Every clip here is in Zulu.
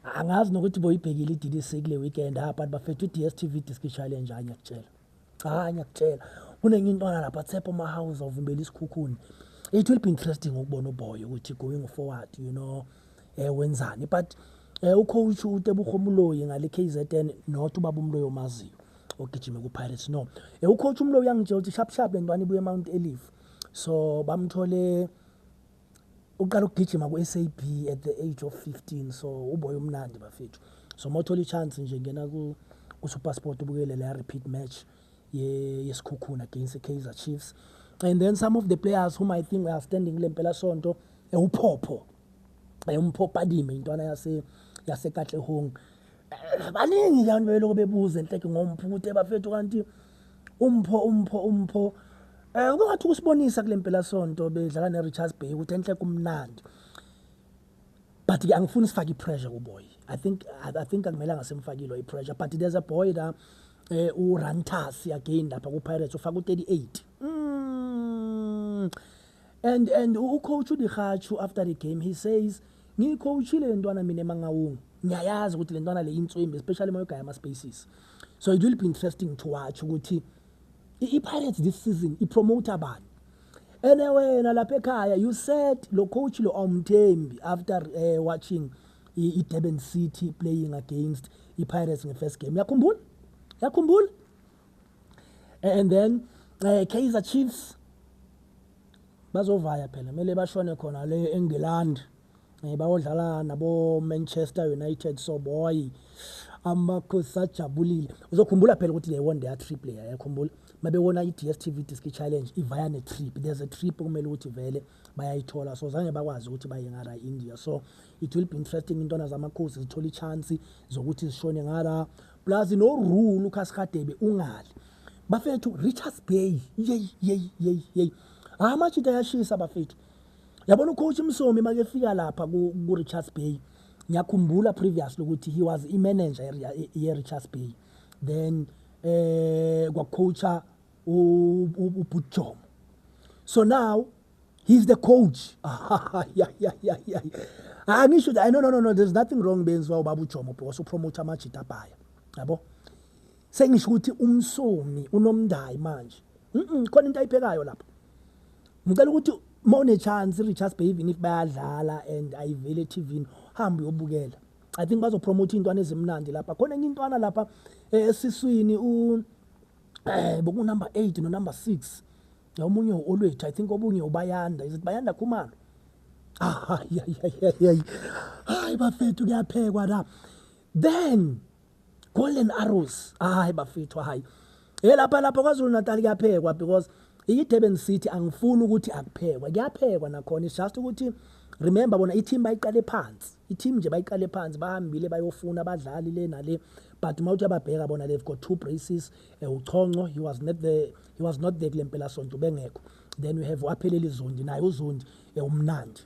angazi nokuthi boyibhekile i-DDC kule weekend ha ah, but bafethu i-DSTV Disc Challenge hayi ngiyakutshela cha hayi ngiyakutshela kunenye intwana lapha Tsepo Mahouse ovimbela isikhukhuni it will be interesting ukubona uboy ukuthi going forward you know eh wenzani but eh ucoach uTebuho Mloyi ngale KZN not ubaba uMloyi omaziyo ogijime ku Pirates no eh ucoach uMloyi uyangitshela ukuthi sharp sharp lentwana ibuye eMount Olive so bamthole uqala ukugijima ku-sab at the age of 15 so uboy umnandi bafethu so uma uthola i-chance nje ngena kusupersport ubukele leya repeat match yesikhukhuna against i-kaizer chiefs and then some of the players whom i think are standing kule mpelasonto ewuphopho eh, umphopho adime intwana yase yasekatlehong Eh, baningi abantu bebeloko bebuza enhleke ngompho ukuthi ebafethu kanti umpho umpho umpho eh ube ngathi ukusibonisa kule mpelasonto bedlala neRichards Bay ukuthi enhle kumnandi but ke angifuni sifake ipressure kuboy i think i, I think akumelanga simfakile ipressure but there's a boy la eh uRantas again lapha kuPirates ufaka u38 mm. and and ucoach uDihachu after the game he says ngiyicoachile le ntwana mina emangawungu ngiyayazi ukuthi le ntwana le yinswembi especially uma yogaya ama-spaces so it will be interesting to watch ukuthi i-pirates this season ipromote abani ene wena lapha ekhaya you said lo coach lo awumthembi after uh, watching i-durban city playing against i-pirates nge-first game yakhumbula yakhumbula and then uh, kaizer chiefs bazovaya phela kumele bashone khona le england um bayodlala nabomanchester united so boy amakhosi ajabulile uzokhumbula phela ukuthi they won their trip leya yakhumbula mabewona i-dstv diski challenge ivaya ne-trip there's a trip kumele ukuthi vele bayayithola so zange bakwazi ukuthi baye ngara india so it will be interesting intwana zamakhosi zithola i-chance zokuthi zishone ngara plus no rule ukhasihadebe ungali bafethu richards bay yeyi yeyi yeyi yeyi hayi amajita ayashisa bafethu yabona ucoach msomi make efika lapha ku-richards bay ngiyakhumbula previously ukuthi he was imanager ye-richards bay then eh kwacoacha ubutjomo so now he's the coach angisho ah, no no no no there's nothing wrong benziwa ubaba ujomo because upromote amajita abhaya yabo sengisho ukuthi umsomi unomndayi manje khona into ayiphekayo lapho ngicela ukuthi uma unechance i-richards bay even if bayadlala and ayiveli etivini hambe uyobukela i think bazopromotha iy'ntwana ezimnandi lapha khona enye intwana lapha eh, esiswini um eh, bokunumber eight nonumber six omunye u-olwethu i think obunye ubayanda is it bayanda khumalo hayi bafethu kuyaphekwa la then golden arrows hayi bafethu hayi e lapha lapha kwazulu natal kuyaphekwa because i-durban city angifuni ukuthi akuphekwa kuyaphekwa nakhona it's just ukuthi remember bona i-team bayiqale phansi I-team nje bayiqale phansi bahambile bayofuna abadlali le nale but uma uthi ababheka bona they've got two braces uh, eh, uchonco he was not there he was not there kule mpelasonto ubengekho then we have wapheleli zondi naye uzondi eh, umnandi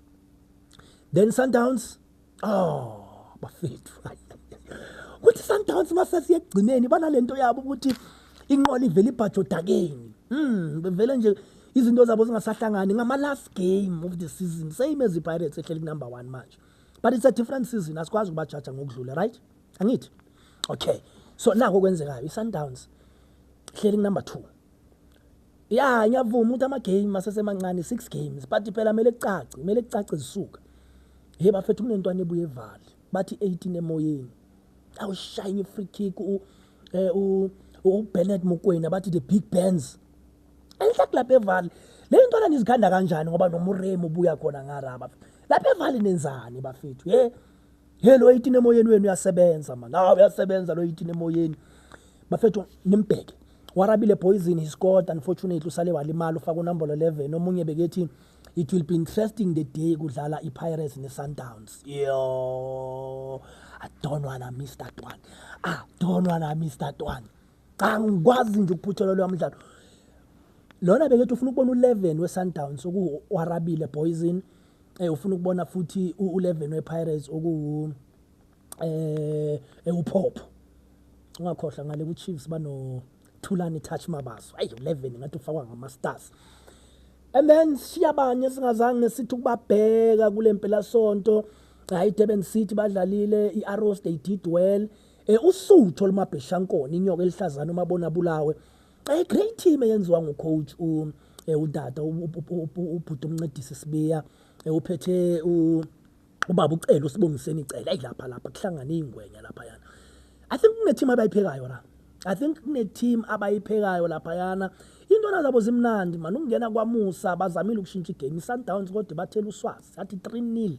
then sundowns oh bafethu ukuthi sundowns masasiye ekugcineni banale nto yabo ukuthi inqola ivele ibhajodakeni um bevele nje izinto zabo zingasahlangani ngama last game of the season same as iPirates ehleli ku number 1 manje but it's a different season asikwazi ukubajaja ngokudlula right angithi okay so nako kwenzekayo iSundowns hleli number 2 ya ngiyavuma ukuthi ama game asesemancane 6 games but phela mele kucace mele kucace zisuka hey bafethu kunentwana ebuye evale bathi 18 emoyeni awushayini free kick u eh, u uBernard Mokwena bathi the big bands angihlaki lapha evali le ntwana nizikhanda kanjani ngoba nomuremu ubuya khona ngaraba lapha evali nenzani bafethu ye ye lo yitini emoyeni wenu uyasebenza mani awu uyasebenza lo yitini emoyeni bafethu nimbheke warabile poison he scored unfortunately usale walimala ufaka unombolo 11 omunye bekethi it will be interesting the day kudlala i-pirates ne-sundowns yo i don't wanna miss that one i don't wanna miss that one cha ngikwazi nje ukuphuthela lo mdlalo lona bekethi ufuna ukubona u11 weSundowns okuwarabile Boyzin eh ufuna ukubona futhi u11 wePirates okuwu eh ewuphopho ungakhohlwa ngale kuChiefs bano Thulani Touch Mabaso ayi 11 ngathi ufakwa ngama Stars and then siyabanye singazange sithi ukubabheka kulempela sonto hayi Durban City badlalile iArrows they did well eh usuthu olumabheshankona inyoka elihlazana uma bona bulawe eh great team eyenziwa ngu coach u eh, udada ubhuti umncedisi sibiya eh, uphethe u ubaba ucela usibongiseni icela ayilapha lapha kuhlangana ingwenya lapha yana i think kune team abayiphekayo la i think kune team abayiphekayo lapha yana intwana zabo zimnandi manje ukungena kwamusa bazamile ukushintsha igame isundowns kodwa bathela uswazi athi 3 nil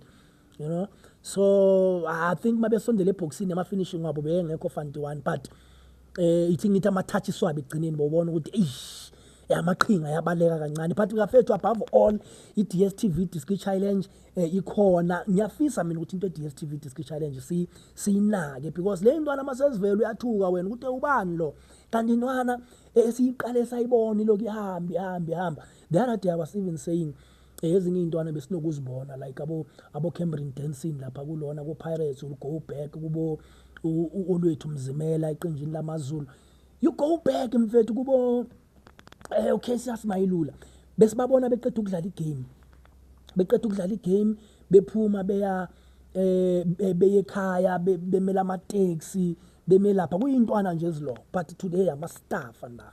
you know so i think mabesondela ebhoksini ama-finishing wabo beyengekho fanti one but um eh, ithi ngithi ama-touch swabo ekugcineni bobona ukuthi eish eh, amaqhinga ayabaleka kancane but ngafethu above all i-d s t v diski challenge um ikhona ngiyafisa mina ukuthi into e-d s t v diski challenge siyinake because le ntwana uma sezivele uyathuka wena ukuthi ubani lo kanti intwana esiyiqale sayibona iloku ihambe ihambe ihamba the other day i was even saying eh, ezinye iy'ntwana besinokuzibona like abo abo-camberin dancing lapha kulona ko-pirates will go back kubo olwethu mzimela eqenjini lamazulu you go back mfethu kubo eh okay siyasimayilula besibabona beqeda ukudlala igame beqeda ukudlala igame bephuma beya eh beyekhaya bemela ama taxi bemelapha kuyintwana nje eziloko but today ama staff la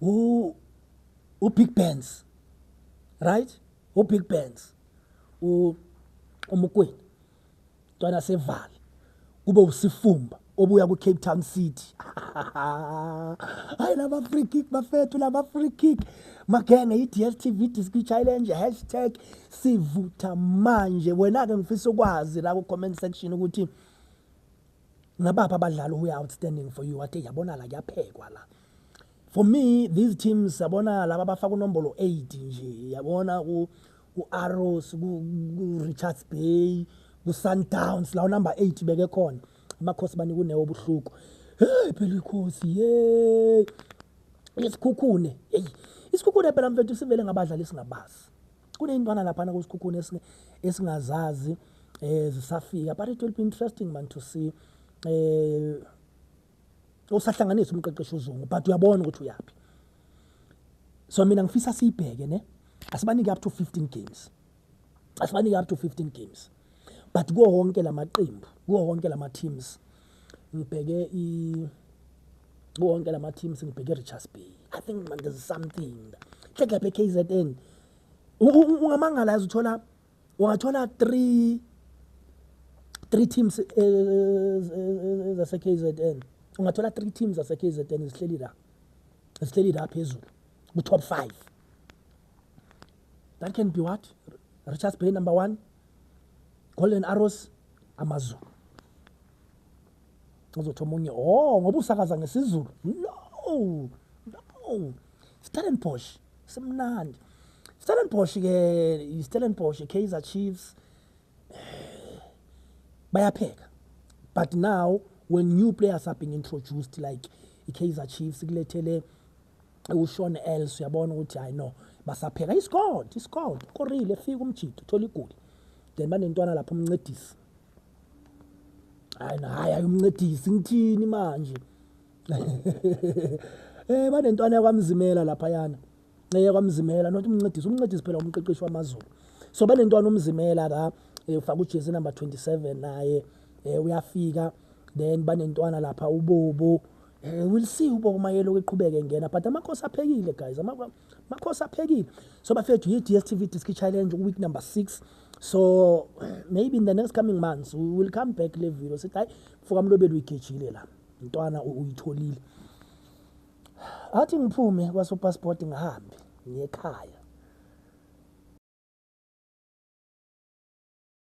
u u big bands right u big bands u umukweni ntwana sevale kube usifumba obuya ku Cape Town City hayi laba free kick bafethu laba free kick magenge i DStv Disc Challenge hashtag sivutha manje wena ke ngifisa ukwazi la ku comment section ukuthi ngabaphi abadlali who outstanding for you wathi yabonala kuyaphekwa la for me these teams sabona laba bafaka unombolo 8 nje yabona ku ku-arrows ku-richards bay ku-sundowns lawo number 8 beke khona amakhosi banika unewo obuhluku hey phela ikhosi yey isikhukhune eyi isikhukhune phela mfethu sivele ngabadlali singabazi Kuneyintwana laphana kusikhukhuni esingazazi eh zisafika but it will be interesting man to see eh usahlanganisa umqeqeshi uzungu but uyabona ukuthi uyaphi so mina ngifisa siyibheke ne asibanike up to 15 games asibanike up to 15 games but kuwo wonke lamaqembu kuwo wonke lama teams ngibheke i kuwo wonke lama teams ngibheke Richards Bay i think man there's something hlekla be KZN ungamangala yazi uthola ungathola 3 3 teams eh, eh, eh, zase KZN ungathola 3 teams zase KZN zihleli la zihleli la phezulu ku top 5 that can be what richards bay number one golden arrows amazulu uzothi omunye o oh, ngoba usakaza ngesizulu no no stellenbosch simnandi stellenbosch ke istellenbosch kaizer chiefs eh, bayapheka but now when new players are being introduced like ikaizer chiefs kulethele uSean Els uyabona ukuthi hayi no basapheka iscored iscored korile efika umjito thola igoli then banentwana lapho umncedisi hayi naye ayumncedisi ngithini manje eh banentwana yakwamzimela lapha yana eh, yakwamzimela not umncedisi umncedisi phela umqeqeshi wamazulu so banentwana umzimela la eh, ufaka ujezi number 27 naye eh, uyafika then banentwana lapha ubobo Eh, we'll see ubokumayela ukuqhubeka engena but amakhosi aphekile guys amakhosi aphekile so bafethu yi-dstv disk challenge week number six so maybe in the next coming months we will come back le video sithi hayi mfokamlobeli uyigejile la mntwana uyitholile athi ngiphume kwasopassport ngihambe ngiyekhaya